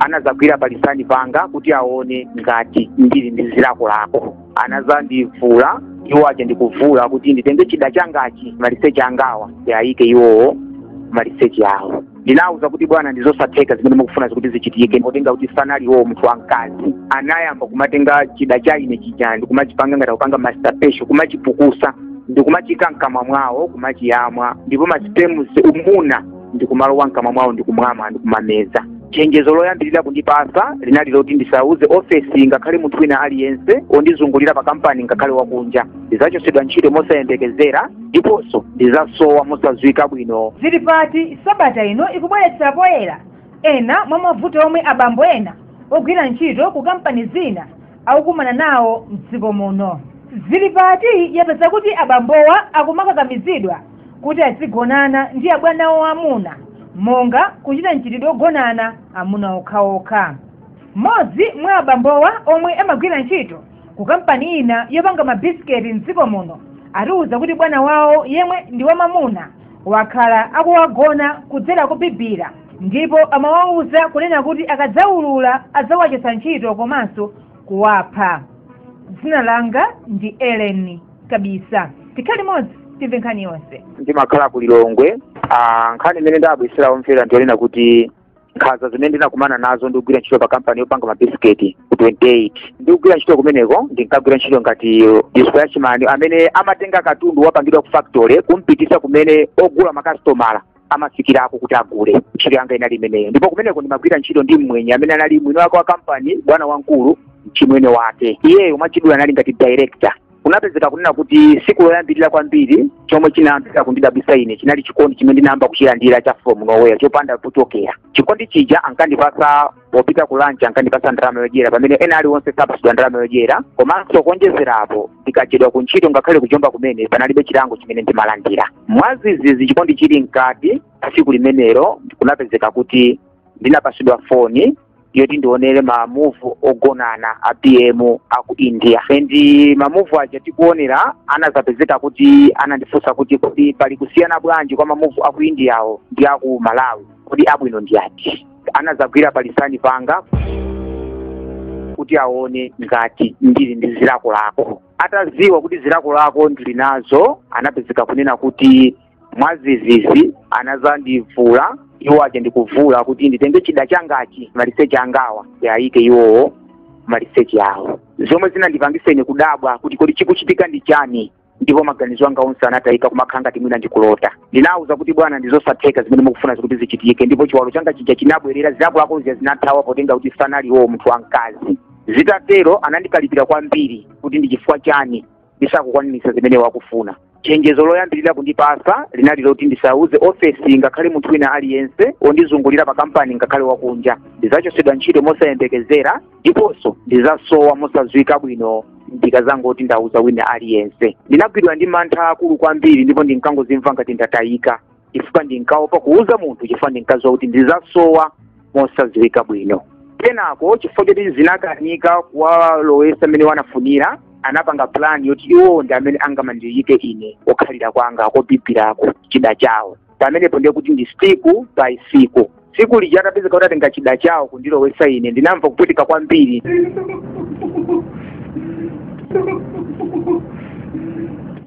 anadzagwira palisani panga kuti aone ngati ndili ndi zilakolako anadzandivula iwo aja ndikuvula kuti nditenge chida changachi maliseche angawa ndiyayike iwowo maliseche awo ndinawuza kuti bwana ndizosatheka zimene mukufuna zikuti zichitike potenga kuti sanali iwowo munthu wamkazi anayamba kumatenga chida cha ine chija ndikumachipanga ngati kupanga masturbation kumachipukusa ndikumachika mkamwa mwawo kumachiyamwa ndipo masipemu umuna ndikumalowa mkamwa mwawo ndikumamwa ndikumameza chenjezo loyambirira kundipasa linali loti ndisauze ofesi ngakhale munthu wina aliyense ondizungulira pa kampani ngakhale wakunja ndizachotsedwa ntchito mosayembekezera ndiponso ndizasowa mosadziwika bwino zili pati sabata ino ikubweretsa poyera ena mwa mavuto omwe abambo ena ogwira ntchito ku kampani zina akukumana nawo mdziko muno zili pati yapeza kuti abambowa akumakakamizidwa kuti azigonana ndi abwana awo amuna monga kuchita mchitidwe ogonana amuna okhaokha mmodzi mwa abambowa omwe amagwira ntchito ku kampani ina yopanga mabisiketi mdziko muno atiwuza kuti bwana wawo yemwe ndi wamamuna wakhala akuwagona kudzera kubibira ndipo amawawuza kunena kuti akadzaulula adzawachotsa ntchito komanso kuwapha dzina langa ndi Ellen Kabisa tikhale limodzi timve nkhani yonse ndimakhala ku Lilongwe ah, nkhani imene ndabweretsera omvera ndiyonena kuti nkhanza zimene ndinakumana nazo ndikugwira ntchito pa kampani yopanga mabisiketi ku 28 ndikugwira ntchito kumeneko ndinkagwira ntchito ngati dispatchman amene amatenga katundu wapangidwa ku factory kumpitisa kumene ogula makasitomala amafikirako kuti agule ntchito yanga inali imeneyo ndipo kumeneko ndimagwira ntchito ndi mmwenye amene anali mwini wake wa kampani bwana wamkulu mchimwene wake iyeyo mwachidule anali ngati director kunapezeka kunena kuti siku loyambirira kwambiri chomwe chinayambira kundidabwisa ine chinali chikondi chimene ndinayamba kuchilandira cha from nowhere chopanda pochokera chikondi chija ankandipasa popita ku lunch ankandipasa ndalama yodyera pamene ena aliwonse sapasidwa ndalama yodyera komanso kuonjezerapo ndikachedwa ku ntchito ngakhale kujomba kumene panalibe chilango chimene ndimalandira mwazizizi chikondi chili mkati tsiku limenelo kunapezeka kuti ndinapasidwa foni yoti ndionere mamuvu ogonana a pm a ku India and mamuvu aja tikuonera anazapezeka kuti anandifunsa kuti kodi pali kusiyana bwanji kwa mamuvu a ku Indiawo ndi a ku Malawi kodi abwino ndi ati anadzagwira palisani panga kuti aone ngati ndili ndi zilakolako atadziwa kuti zilakolako ndili nazo anapezeka kunena kuti mwazizizi anadzandivula iwo aja ndikuvula kuti nditenge chida changachi maliseche angawa ndiyayike iwowo maliseche awo zomwe zinandipangitsa ine kudabwa kuti kodi chikuchitika ndi chani ndipo maganizo anga onse anatayika kumakhala ngati mwina ndikulota ndinawuza kuti bwana ndizosatheka zimene mukufuna zikuti zichitike ndipo chiwalo changa chija chinabwerera zilakolako zija zinathawa potenga kuti sanali iwowo munthu wamkazi zitatero anandikalipira kwambiri kuti ndi chifukwa chani ndisakukwanisa zimene akufuna chenjezo loyambirira kundipasa linali loti ndisauze ofesi ngakhale munthu wina aliyense wondizungulira pa kampani ngakhale wakunja ndidzachosedwa ntchito mosayembekezera ndiponso ndizasowa mosadziwika bwino ndikazangoti ndauza wina aliyense ndinagwidwa ndi mantha akulu kwambiri ndipo ndinkangozimva ngati ndatayika chifukwa ndinkaopa kuuza munthu chifukwa ndinkadziwa kuti ndizasowa mosadziwika bwino kenako chifukwa choti zinakanika kuwalowesa mmene anafunira anapanga plan yoti iwo ndi amene angamandiyike ine kokhalira kwanga kobibirako chida chawo pamenepo ndiye kuti ndi siku by siku siku lija atapezeka kuti atenga chida chawo kundilowesa ine ndinamva kupweteka kwambiri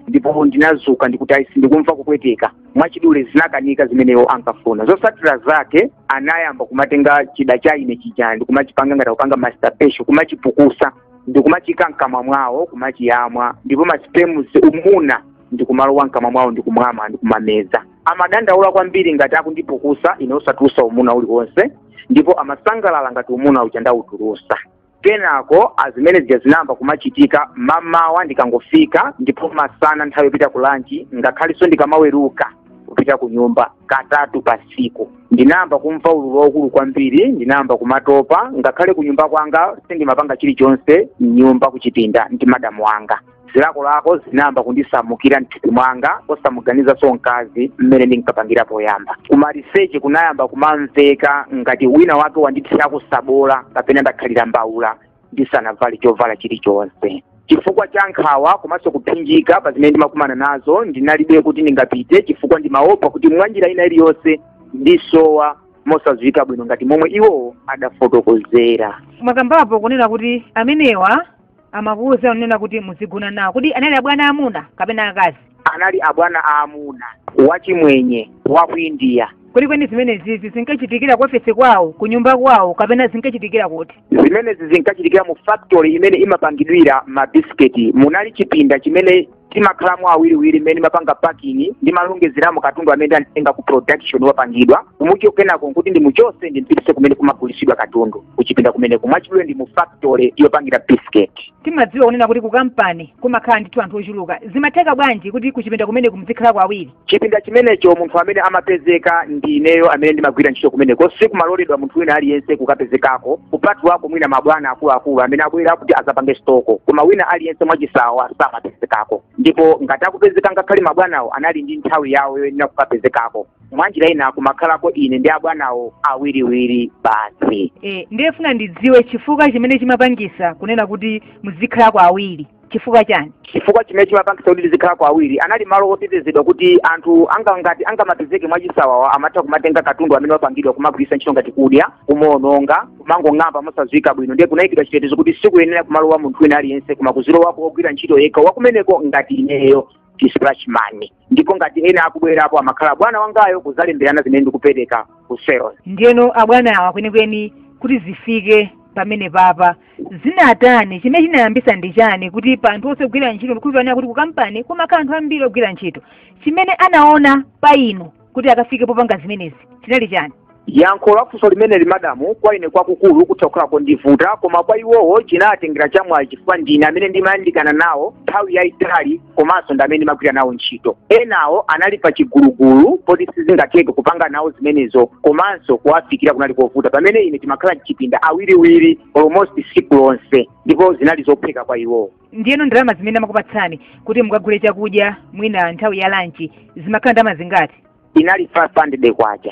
ndipo ndinazuka ndikuti aisi ndikumva kupweteka mwachidule zinakanika zimene iwo ankafuna zosatira zake anayamba kumatenga chida cha ine chija ndikumachipanga ngati kupanga masturbation kumachipukusa ndikumachiika mkamwa mwawo kumachiyamwa ndipo maspemus umuna ndi kumalowa mkamwa mwawo ndi kumamwa ndi kumameza amadandaula kwambiri ngati akundipukusa ine osatulusa umuna uliwonse ndipo amasangalala ngati umuna uja ndawutulusa kenako zimene zija zinayamba kumachitika mamawa ndikangofika ndipo masana nthawi yopita ku lanchi ngakhalenso ndikamaweruka kupita ku nyumba katatu pa siku ndinayamba kumva ululu waukulu kwambiri ndinayamba kumatopa ngakhale ku nyumba kwanga sindimapanga chilichonse mnyumba kuchipinda ndi madamu anga zilakolako zinayamba kundisamukira mthupi mwanga osamuganizanso mkazi mmene ndinkapangira poyamba kumaliseche kunayamba kumamveka ngati wina wake wanditsira tsabola kapena ndakhalira mbawula ndisanavale chovala chilichonse chifukwa cha nkhawa komanso kuphinjika pa zimene ndimakumana nazo ndinalibe kuti ndingapite chifukwa ndimaopa kuti mwanjira ina iliyonse ndisowa mosadziwika bwino ngati momwe iwo adafotokozera mwakambapo kunena kuti amenewa amakuwuza kunena kuti muzigona nawo kodi anali abwana amuna kapena akazi anali abwana aamuna wachimwenye wa ku indiya kwenikweni zimenezizi zinkachitikira ku ofesi kwawo ku nyumba kwawo kapena zinkachitikira kuti zimenezi zinkachitikira mu factory imene imapangidwira mabisiketi munali chipinda chimene timakhalamo awiriwiri mmene ndimapanga packing ndimalongezeramo katundu amene ndamutenga ku production wapangidwa kumuikamo kenako nkuti ndimuchose ndimpitise kumene kumagulisidwa katundu kuchipinda kumeneko mwachidule ndi mu factory yopangira biscuit timadziwa kunena kuti ku kampani kumakhala ndithu anthu ochuluka zimatheka bwanji kuti kuchipinda kumeneko muzikhalako awiri chipinda chimenecho munthu amene amapezeka ndi ineyo amene ndimagwira ntchito kumeneko sikumaloledwa munthu wina aliyense kukapezekako kupatulako mwina mabwana akuluakulu amene abwera kuti azapange stoko koma wina aliyense mwachisawawa samapezekako ndipo ngati akupezeka ngakhale mabwanawo anali ndi nthawi yawo yoyenera kukapezekako mwanjira ina kumakhalako ine ndi abwanawo awiriwiri basi e, ndiye ndifuna ndidziwe chifukwa chimene chimapangisa kunena kuti muzikhalako awiri chifukwa chani chifukwa chimene chimapangisa kuti tizikhalako awiri anali malo otetezedwa kuti anthu ngati angamapezeke mwachisawawa amatha kumatenga katundu amene wapangidwa kumagwiritsa ntchito ngati kudya kumaononga kumangong'amba mosadziwika bwino ndiye kunayikidwa chitetezo kuti sikuyenera kumalowa munthu wina aliyense koma kuzilowako ogwira ntchito yekha wakumeneko ngati ineyo dispatch man ndipo ngati ena akubwerapo amakhala bwana wangayo kuzalemberana zimene ndikupereka ku sales ndiyeno abwana awa kwenikweni kuti zifike pamenepapa zinatani chimene chinayambisa ndi chani kuti pa anthu onse ogwira ntchito ndikudziwa kunena kuti ku kampani kumakhala anthu ambiri ogwira ntchito chimene anaona pa inu kuti akafike popanga zimenezi chinali chani yankho la funso limeneli madamu kwa ine kwakukulu kutha kukhala kondivuta koma kwa iwowo chinatengera chamwayi chifukwa ndine amene ndimayandikana nawo nthawi yayitali komanso ndi amene ndimagwira nawo ntchito enawo anali pa chigulugulu poti sizingatheke kupanga nawo zimenezo komanso kuwafikira kunali kovuta pamene ine timakhala mchipinda awiriwiri almost siku lonse ndipo zinali zophweka kwa iwowo ndiyeno ndalama zimene amakupatsani kuti mukagule chakudya mwina nthawi ya lanchi zimakhala ndalama zingati inali 500 kwacha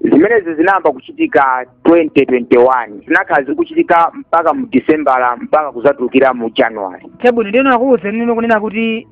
zimenezi zinayamba kuchitika 2021 zinakhala zikuchitika mpaka mu disembala mpaka kuzatulukira mu january chabwino ndiyeno akuwuzani inu kunena kuti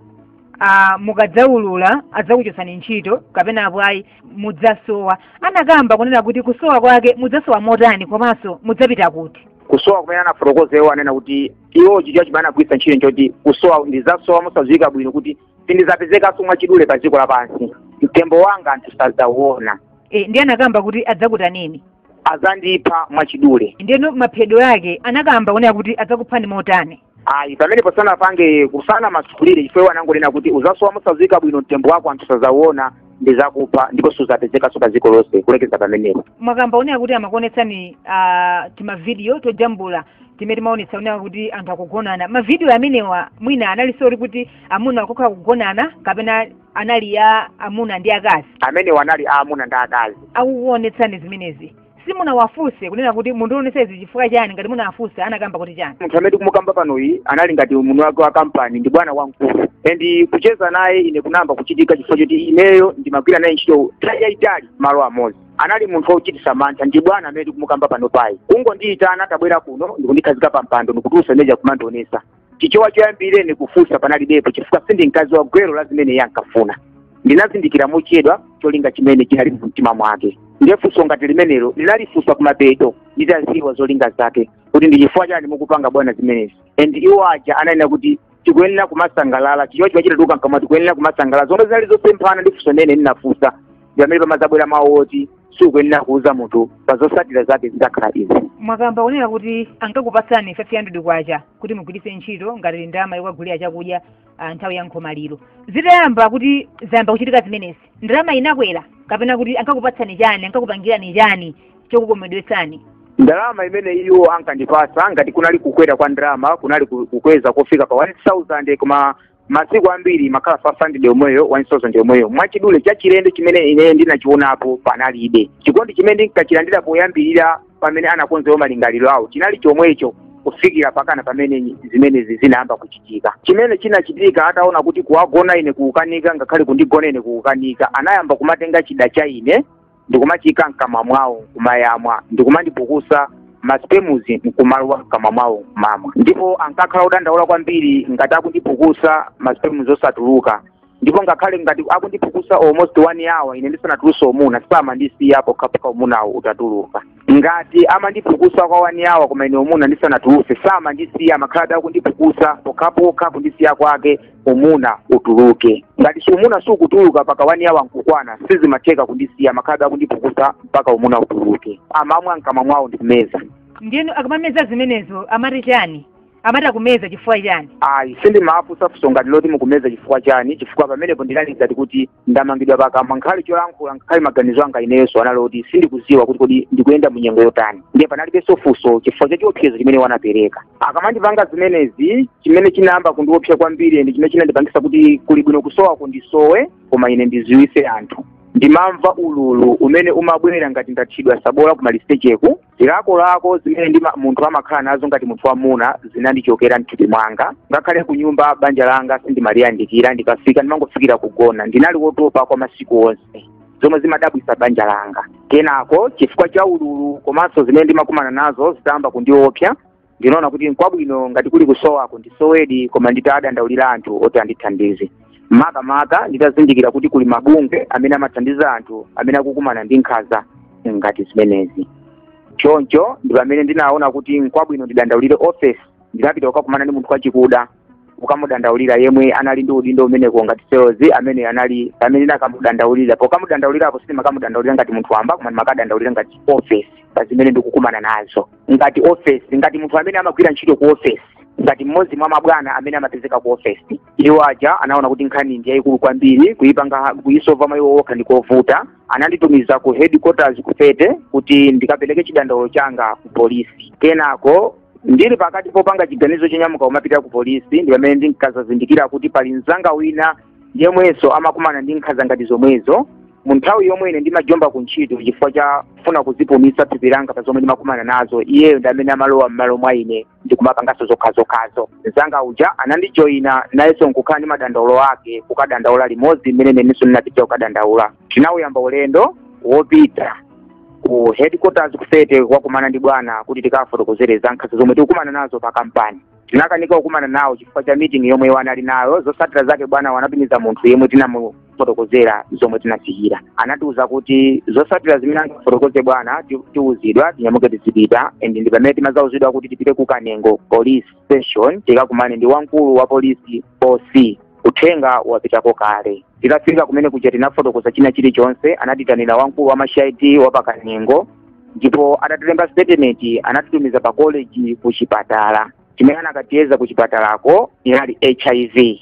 ah, mukadzaulula adzakuchotsani ntchito kapena apo ayi mudzasowa anakamba kunena kuti kusowa kwake mudzasowa motani komanso mudzapita kuti kusowa kumene anafotokoza iwo anena kuti iwo chichewa chimene anagwiritsa ntchito nchoti kusowa ndizasowa mosadziwika bwino kuti sindizapezekanso mwachidule pa dziko lapansi mtembo wanga anthu sadzauona e, ndiye anakamba kuti adzakutaneni adzandipha mwachidule ndiyeno maphedwe ake anakamba kunena kuti adzakuphani motani ayi pamenepo sanapange ku sanamasukulire chifukwa iwo anangonena kuti uzasowa mosadziwika bwino mtembo wako anthu sadzauona ndizakupha ndipo suzapezekanso pa dziko lonse kulekeza pamenepo mwakamba kunena kuti amakuonetsani ah, timavidiyo tojambula timene timaonetsa kunena kuti anthu akugonana mavidiyo amenewa mwina anali sori kuti amuna okhaokha akugonana kapena anali a amuna ndi akazi amenewa anali a amuna ndi akazi akukuonetsani zimenezi simunawafunse kunena kuti mukundionesa izi chifukwa chani ngati munawafunsa anakamba kuti chani munthu amene tikumukamba panoyi anali ngati mwini wake wa kampani ndi bwana wamkulu and kucheza naye ine kunayamba kuchitika chifukwa choti ineyo ndimagwira naye ntchito nthawi yayitali malo amodzi anali munthu wochititsa mantha ndi bwana amene tikumukamba panopayi kungondiyitana tabwera kuno ndikundikhazika pa mpando ndikutulusa zimene zija kumandionesa chichewa choyambira ndi kufunsa panalibepo chifukwa sindi mkazi wa gwero la zimene iye ankafuna ndinazindikira mochedwa cholinga chimene chinali mu mtima mwake ndiye funso ngati limenelo linalifunsa kumapeto nditaziwa zolinga zake kuti ndi chifukwa chani mukupanga bwana zimenezi and iwo aja ananena kuti tikuyenera kumasangalala chichewa chimachita tuluka mkamwa tikuyenera kumasangalala zomwe zinali zosemphana ndi funso limene ndinafunsa ndi pamene pamazabwera mawu oti sikuyenera kuuza munthu pa zosatira zake zitakhala izi mwakamba kunena kuti ankakupatsani 500 kwacha kuti mugwiritse ntchito ngati ndalama yokagulira chakudya ah, nthawi ya nkhomaliro zitayamba kuti zayamba kuchitika zimenezi ndalama inakwera kapena kuti ankakupatsani chani ankakupangirani chani chokukometsani ndalama imene iwo ankandipasa ngati kunali kukwera kwa ndalama kunali ku- kukweza kofika pa 1000 koma masiku ambiri imakhala 500 yomweyo 1000 yomweyo mwachidule chachilendo chimene ine ndinachionapo panalibe chikondi chimene ndinkachilandira poyambirira pamene anakonza iwo malingaliro awo chinali chomwecho kufikira pakana pamene zimenezi zinayamba kuchitika chimene chinachitika ataona kuti kuwagona ine kukukanika ngakhale kundigona ine kukukanika anayamba kumatenga chida cha ine ndikumachiyika mkamwa mwawo nkumayamwa ndikumandipukusa masipemuzi nkumalowa mkamwa mwawo nkumamwa ndipo ankakhala odandaula kwambiri ngati akundipukusa masipemuzi osatuluka ndipo ngakhale ngati akundipukusa almost one hour ine ndisanatuluse umuna samandisiya pokhapokha umunawo utatuluka ngati amandipukusa kwa one hour koma ine umuna ndisanatuluse samandisiya amakhalabe akundipukusa pokhapokha kundisiya kwake umuna utuluke ngati umuna sukutuluka paka one hour nkukwana sizimatheka kundisiya amakhalabe akundipukusa mpaka umuna utuluke amamwa mkamwa mwawo ndikumeza ndiyeno akamameza zimenezo amati chani amati akumeza chifukwa chani ayi sindimafunsa funso ngati loti mukumeza chifukwa chani chifukwa pamenepo ndinali ngati kuti ndamangidwa pakamwa ngakhale cholankhula ngakhale maganizo anga inenso anali oti sindikuziwa kuti kodi ndikuyenda mu nyengo yotani ndiye panalibenso funso chifukwa cha chiopsezo chimene iwo anapereka akamandipanga zimenezi chimene chinayamba kundiopsa kwambiri ndi chimene chinandipangisa kuti kuli bwino kusowako ndisowe koma ine ndiziwise anthu ndimamva ululu umene umabwera ngati ndathiridwa sabola kumalisecheku zilakolako zimene munthu amakhala nazo ngati munthu wamuna zinandichokera mthupi mwanga ngakhale ku nyumba banja langa sindimaliyandikira ndikafika ndimangofikira kugona ndinali wotopa kwa masiku onse zomwe zimadabwisa banja langa kenako chifukwa cha ululu komanso zimene ndimakumana nazo zitayamba kundiopsa ndinaona kuti nkwabwino ngati kuli kusowako ndisowedi koma nditadandaulira anthu oti andithandize makamaka nditazindikira kuti kuli mabungwe amene amathandiza anthu amene akukumana ndi nkhanza ngati zimenezi choncho ndi pamene ndinaona kuti nkwabwino ndidandaulire ofesi ndinapita kukakumana ndi munthu wachikuda ukamudandaulira yemwe anali ndi udindo umeneko ngati sales amene anali pamene ndinakamudandaulira pokamudandaulirapo sindimakamudandaulira ngati munthu wamba koma ndimakadandaulira ngati office pa zimene ndikukumana nazo ngati office ngati munthu amene amagwira ntchito ku office ngati mmodzi mwa mabwana amene amapezeka ku office iwo aja anaona kuti nkhani ndi yayikulu kwambiri kuyipanga kuyisova mwa iwo okha ndikovuta ananditumiza ku headquarters ku fete kuti ndikapereke chidandaulo changa ku polisi kenako ndili pakati popanga chiganizo chonyamuka kumapita ku polisi ndi pamene ndinkazazindikira kuti pali mzanga wina yemwenso amakumana ndi nkhanza ngati zomwezo mu nthawi yomwe ine ndimajomba ku ntchito chifukwa cha kufuna kuzipumitsa thupi langa pa zomwe ndimakumana nazo iyeyo ndi amene amalowa m'malo mwa ine ndikumapanganso zokhazokhazo mzanga uja anandijoyina nayenso nkukhala ndi madandaulo ake kukadandaula limodzi mmene nanenso ndinapitira kukadandaula tinawuyamba ulendo wopita ku headquarters ku fete kukakumana ndi bwana kuti tikawafotokozere za nkhanza zomwe tikukumana nazo pa kampani tinakanika kukumana nawo chifukwa cha meeting yomwe iwo anali nayo zotsatira zake bwanawa anatumiza munthu yemwe tinamufotokozera zomwe tinafikira anatiuza kuti zotsatira zimene angafotokoze bwana ti- tiuzidwa tinyamuke tizipita and ndi pamene timazauzidwa kuti tipite ku kanengo police station tikakumane ndi wamkulu wa polisi oc uthenga wapitako kale titafika kumene kuja tinafotokoza china chilichonse anatitanira wamkulu wa ma cid wa pa kanengo ndipo atatilemba statement anatitumiza pa college ku chipatala chimene anakatiyeza ku chipatalako inali hiv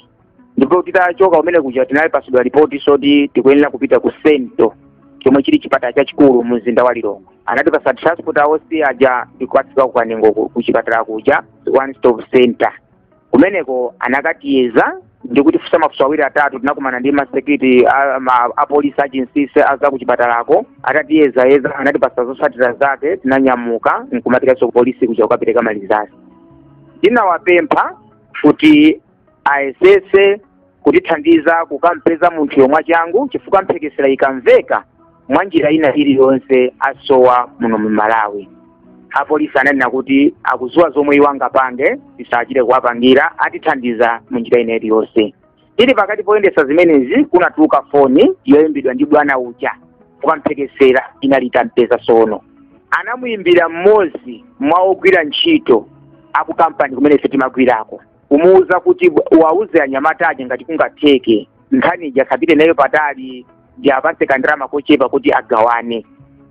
ndipo titachoka kumene kuja tinapasidwa malipoti oti tikuyenera kupita ku sento chomwe chili chipatala chachikulu mu mzinda wa lilongwe anatipasa transport aosi aja ndikukatsika ku kanengo ku ku chipatala kuja one stop center kumeneko anakatiyeza ndi kutifunsa mafunso awiri atatu tinakumana ndi masekiti a- ma- apolisi achinsisi a za kuchipatalako atatiyeza yeza anatipasa zotsatira zake tinanyamuka nkumapitanso kupolisi kuja kukapereka ma results tinawapempha kuti ayesese kutithandiza kukampeza munthuyo mwachangu chifukwa mphekesera ikamveka mwa njira ina iliyonse asowa muno mu malawi apolisi ananena kuti akuziwa zomwe iwo angapange tisachite kuwapangira atithandiza mu njira ina iliyonse tili pakati poyendesa zimenezi kunatuluka foni yoyimbidwa ndi bwana uja chifukwa mphekesera inali itampeza sono anamuyimbira mmodzi mwa ogwira ntchito aku kampani kumene ife timagwirako kumuwuza kuti wawuze anyamata aja ngati kungatheke nkhani ija asapite nayo patali ndiwapase kandalama kochepa kuti agawane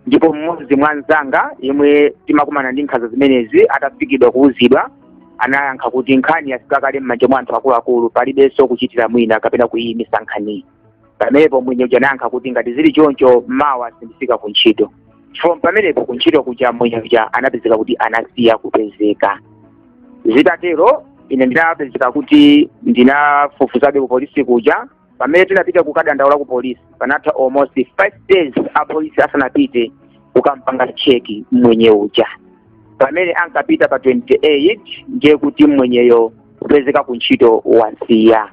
ndipo mmodzi mwa anzanga yemwe timakumana ndi nkhanza zimenezi atafikidwa kuwuzidwa anayankha kuti nkhani yafika kale m'manja mwa anthu akuluakulu palibenso kuchitira mwina kapena kuyiyimitsa nkhaniyi pamenepo mwenye uja anayankha kuti ngati zili choncho mawa sindifika ku ntchito from pamenepo ku ntchito kuja mwenye uja anapezeka kuti anasiya kupezeka zitatero ine ndinapezeka kuti ndinafufuzabe ku polisi kuja pamene tinapita kukadandaula ku polisi panatha almost five days a polisi asanapite kukampanga cheki mwenye uja pamene ankapita pa 28 ndiye kuti mwenyeyo kupezeka ku ntchito wasiya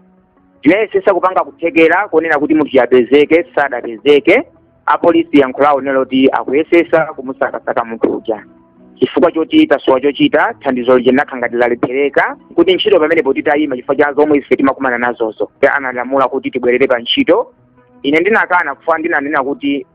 tinayesesa kupanga kuthekera koonera kuti munthu uja apezeke sadapezeke apolisi yankho lawo n'loti akuyesesa kumusakasaka munthu uja chifukwa choti tasowa chochita thandizo lija linakhala ngati lalephereka kuti ntchito pamenepo titayima chifukwa cha zomwe ife timakumana nazozo Iye analamula kuti tibwerere pa ntchito ine ndinakana kufa ndinanena kuti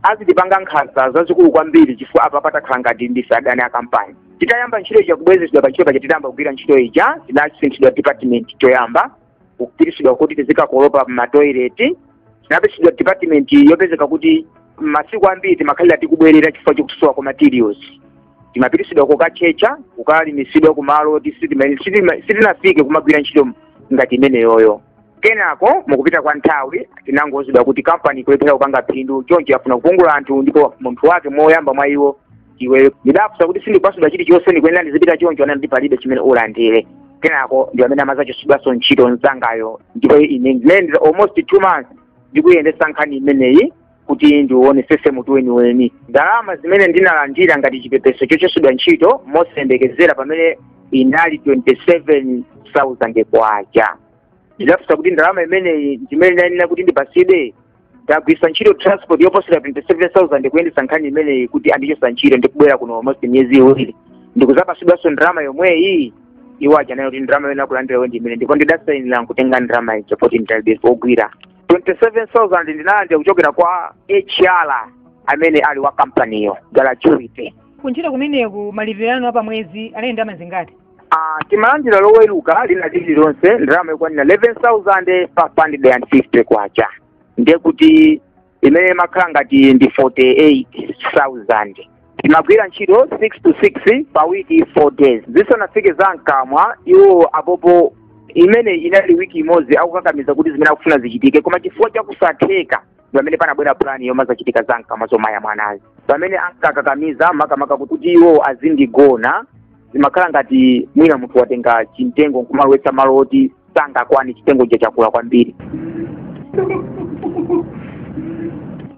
azitipanga nkhanza zazikulu kwambiri chifukwa apa patakhala ngati ndife adani a kampani titayamba ntchito ija kubwezesedwa pa ntchito paja titayamba kugwira ntchito ija tinasinthidwa department choyamba kupitisidwa kuti tizikakolopa m'matoileti tinapisidwa department yopezeka kuti masiku ambiri timakhalira tikubwerera chifukwa chokusowa kwa materials timapitisidwa kokatchetcha kukalimisidwa kumalo oti sitinafike kumagwira ntchito ngati imeneyoyo kenako mukupita kwa nthawi tinangouzidwa kuti kampani ikulephera kupanga phindu choncho afuna kupungula anthu ndipo munthu wake moyamba mwa iwo iwe ndidafusa kuti sindikupasidwa chilichonse ndikuyenera ndizipita choncho anati palibe chimene ulandire kenako ndi amene amazachosedwaso ntchito mzangayo ndipo ine ndinayendera almost two months ndikuyendesa nkhani imeneyi kuti ndionesese mutu weniweni ndalama zimene ndinalandira ngati chipepeso chochosedwa ntchito mosayembekezera pamene inali 27000 kwacha ndidafunsa kuti ndalama imeneyi ndimene ndayenera kuti ndipatsidwe ndagwiritsa ntchito transport yoposera 27000 kuyendetsa nkhani imeneyi kuti andichotsa ntchito ndikubwera kuno almost miyezi iwiri ndikuzapatsidwanso ndalama yomweyi iwo anayankha kuti ndalama yoyenera kulandira iwe ndi imeneyi ndipo ndidasainira nkutenga ndalama ija poti ndinalibe pogwira 27000 ndinalandira kuchokera kwa hr amene ali wa kampaniyo gratuity kuntchito kumeneku malipiro anu apamwezi anali ndalama zingati timalandira loweruka lina lililonse ndalama yokwanira 11,550 kwacha ndiye kuti imene imakhala ngati ndi 48,000 timagwira ntchito 6 to 6 pa wiki 4 days zisanafike za mkamwa iwo apopo imene inali wiki imodzi akukakamiza kuti zimene akufuna zichitike koma chifukwa chakusatheka pamene panabwera plani yomazachitika za mkamwa zomaya mwanazi pamene ankakakamiza makamaka kuti iwo azindigona zimakhala ngati mwina munthu watenga chimtengo nkumalowetsa malo oti sichingakwane chimtengo cha chakula kwambiri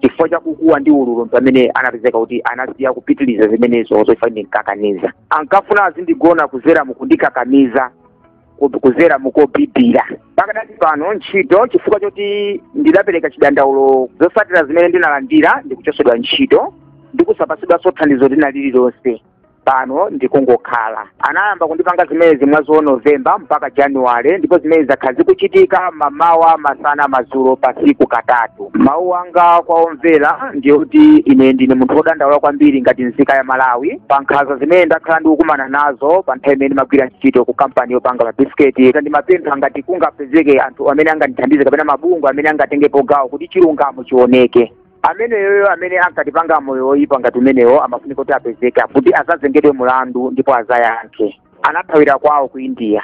chifukwa cha kukuwa ndi ululu mpamene anapezeka kuti anasiya kupitiliza zimenezo chifukwa ndinkakaniza ankafuna azindigona kudzera mukundikakamiza ku- kudzera mokubibira pakadati pano ntchito chifukwa choti ndidapereka chidandaulo zotsatira zimene ndinalandira ndikuchotsedwa ntchito ndikusapatsidwanso thandizo lina lililonse pano ndikungokhala anayamba kundipanga zimenezi mwezi wa novemba mpaka januwale ndipo zimene zakhala zikuchitika mamawa masana madzulo pasiku katatu mawu anga kwa omvera ndi oti ine ndine munthu wodandaula kwambiri ngati nzika ya malawi pa nkhanza zimene ndakhala ndikukumana nazo pa nthawi imene ndimagwira ntchito ku kampani yopanga mabisiketi ndimapempha ngati kungapezeke anthu amene angandithandize kapena mabungwe amene angatengepo gawo kuti chilungamo chioneke ameneyoyo amene ankatipanga moyo woyipa ngati umenewo amafunika kuti apezeke kuti azazengedwe mulandu ndipo azayankhe anathawira kwawo ku india